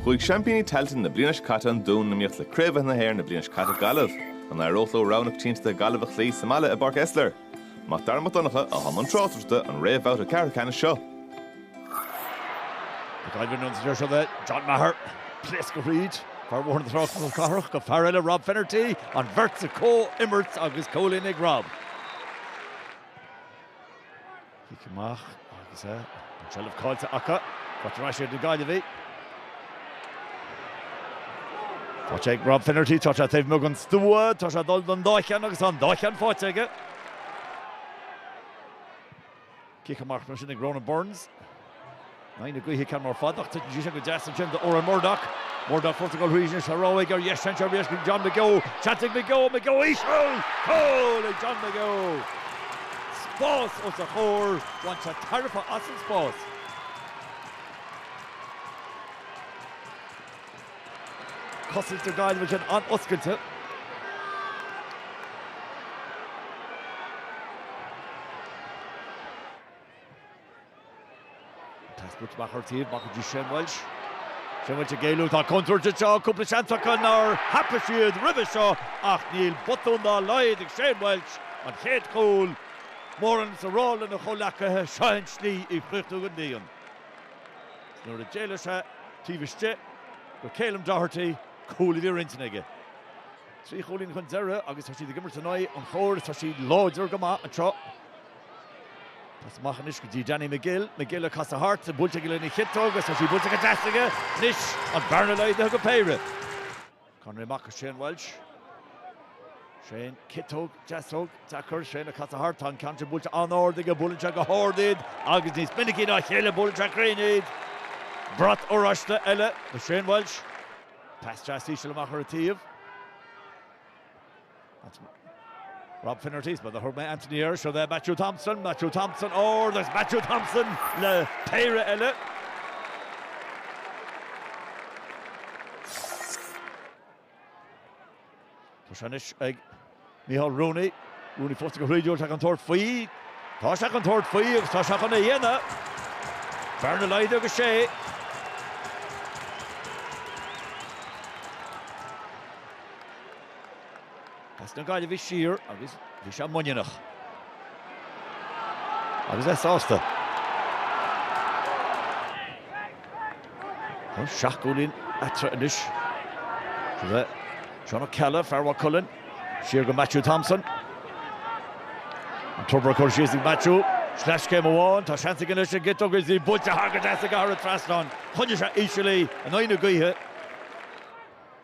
Chuaigh seaimpíní Tailteann na bliana seo caite An Dún in iomaíocht le Craobhacha na hÉireann na bliana seo caite Gaillimh. An n-éireodh leo rogha na coitiantachta Gaillimh a chloí sa mbaile i bPáirc Esler? Mac Dara Mac Donncha a bhí i mbun tráchtaireachta an réamhbhabhta ceathrú ceannais seo. Ag éirí an ionsaí seo le John Maher. Pléascadh thríd fear Bhóthar na Trá Chnoc na Cathrach go fear eile Rob Finnerty, an bheirt sa comhimirt agus cúilín ag Rob. Cic amach agus é an tseilbh caillte acu. Faighte ar ais ag na Gaillimhigh. Faighte ag Rob Finnerty, tá sé taobh amuigh den stua, tá sé ag dul don dá cheann agus tá an dá cheann faighte aige. Cic amach mar sin ag Ronan Burns. In aghaidh na gaoithe ceann mór fada ach titeann sí sin go deas ansin do Odhrán Murdoch. Murdoch fós ag dul thríd anois, rogha aige ar dheis seans arís ag John McGeough. Seans ag McGeough, McGeough íseal! Cúl ag John McGeough! Spás os a chomhair, bhain sé tairbhe as an spás. Cosaint na Gaillimhe sin an-oscailte. Taispeántas maith ar thaobh amach go dtí Shane Walsh. Shane Walsh ag éalú, tá contúirt anseo, cúpla seans acu nár thapaigh siad roimhe seo ach níl botún dá laghad ag Shane Walsh, an chéad chúl, mórán is a rá lena chomhleacaithe, seo é an tslí í a chríochnú go dian. Is nuair a d'éalaigh sé taobh istigh de Ceilum Doherty, cúl a bhí ar intinn aige. Trí chúilín chun deiridh agus tá siad ag imirt in aghaidh an chóir is tá siad láidir go maith anseo. Pas amach anois go dtí Danny Magill, Magill ag casadh thart, buailte aige lena chiotóg agus tá sí buailte go deas aige anois, an bearna laghdaithe go péire. Conroy amach go Shane Walsh. Shane, ciotóg, deasóg, deacair, Shane ag casadh thart, tá an ceann sin buailte an-ard aige, buaileann sé go hard iad agus níos minicí ná a chéile, buaileann sé cruinn iad. Brat oráiste eile do Shane Walsh. Pas deas íseal amach ar an taobh. Anthony. Rob Finnerty ar ball a thug mé Anthony air, seo é Matthew Thompson, Matthew Thompson óir agus Matthew Thompson le péire eile. Tá sé anois ag Micheál Rooney, Rooney fós ag a thríúr, tá sé ag tabhairt faoi, tá sé ag tabhairt faoi agus tá sé chun é a dhéanamh. Bearna laghdaithe go sé. As na Gaillimhigh siar agus bhí sé muiníneach. Agus é sásta. Tá seacht gcúilín eatarthu anois. Seilbh ag Seán Ó Ceallaigh, fear Mhaigh Cuilinn, siar go Matthew Thompson. An tobar a chur síos ag Matthew. Sleaschéim amháin, tá seans aige leis an gcic agus í buailte thart go deas aige thar an trasnán. Choinnigh sé íseal í in aghaidh na gaoithe.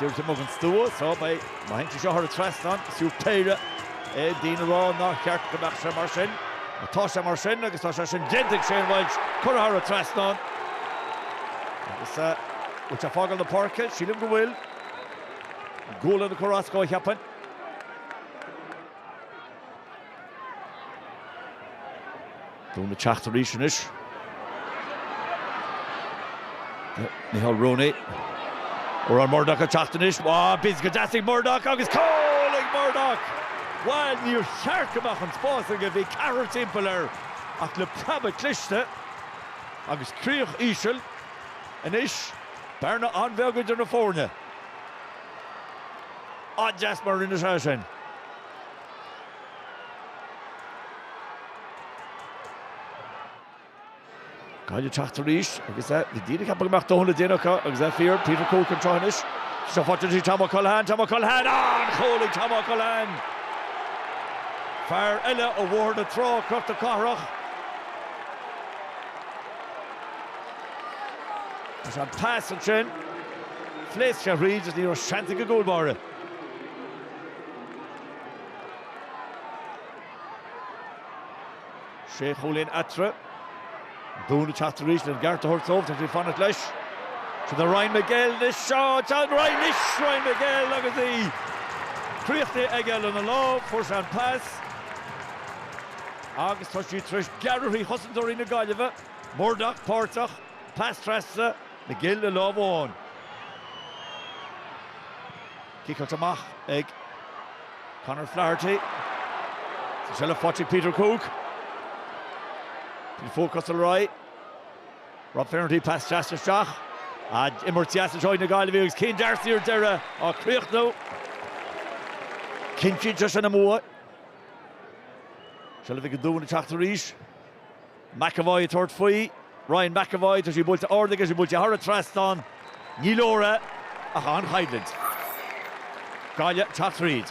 Díreach taobh amuigh den stua, Tá mé. Má théann sé seo thar an trasnán, is fiú péire é. Daoine ag rá nár cheart go mbeadh sé mar sin. Ach tá sé mar sin agus tá sé sin déanta ag Shane Walsh, curtha thar an trasnán. Agus an bhfuil sé ag fágáil na páirce? Sílim go bhfuil. Gualainn ag cur as dó, cheapfainn. Dún ag teacht arís anois. Micéal Rooney. Odhran Murdock ag teacht anois. Bhá, bid go deas ag Murdock agus cúl ag Murdock! Bhuel, níor cheart go mbeadh an spás aige, bhí ceathrar timpeall air ach le preabadh cliste agus críoch íseal anois, bearna an-bheag idir na foirne. Ba dheas mar a rinne sé sin. Gaillimh ag teacht arís agus bhí daoine ag ceapadh go mbeadh dóthain le déanamh acu agus é fíor, Peter Cooke chun tosaigh anois. Seo faighte trí Tomo Culhane, Tomo Culhane, an cúl ag Tomo Culhane! Fear eile ó Bhóthar na Trá, Cnoc na Cathrach. Is an pas ansin, phléasc sé thríd agus ní raibh seans ag an gcúl báire. Sé chúilín eatarthu. Dún ag teacht arís lena gceart a thabhairt dóibh, tá siad ag fanacht leis. Sin do Ryan Magill anois, seo John Ryan anois, Ryan Magill agus í críochnaithe aige lena lámh, fuair sé an pas agus tá siad tar éis gearradh thrí chosantóirí na Gaillimhe, Murdock páirteach, pas trasna, Magill le lámh amháin. Ciceáilte amach ag Conor Flaherty. Is seilbh faighte ag Peter Cooke. Bhí fuath cos ar aghaidh. Rob Finnerty pas deas isteach. Imirt dheas í seo ó na Gaillimhigh agus Céin D'Arcy ar deireadh á chríochnú. Cinntíonn sé sin a mbua. Seilbh ag an Dún ag teacht arís. McEvoy ag tabhairt faoi. Ryan McEvoy, tá sí buailte ard aige, sí buailte thar an trasnán. Ní leor é, ach an-choimhlint. Gaillimh ag teacht thríd.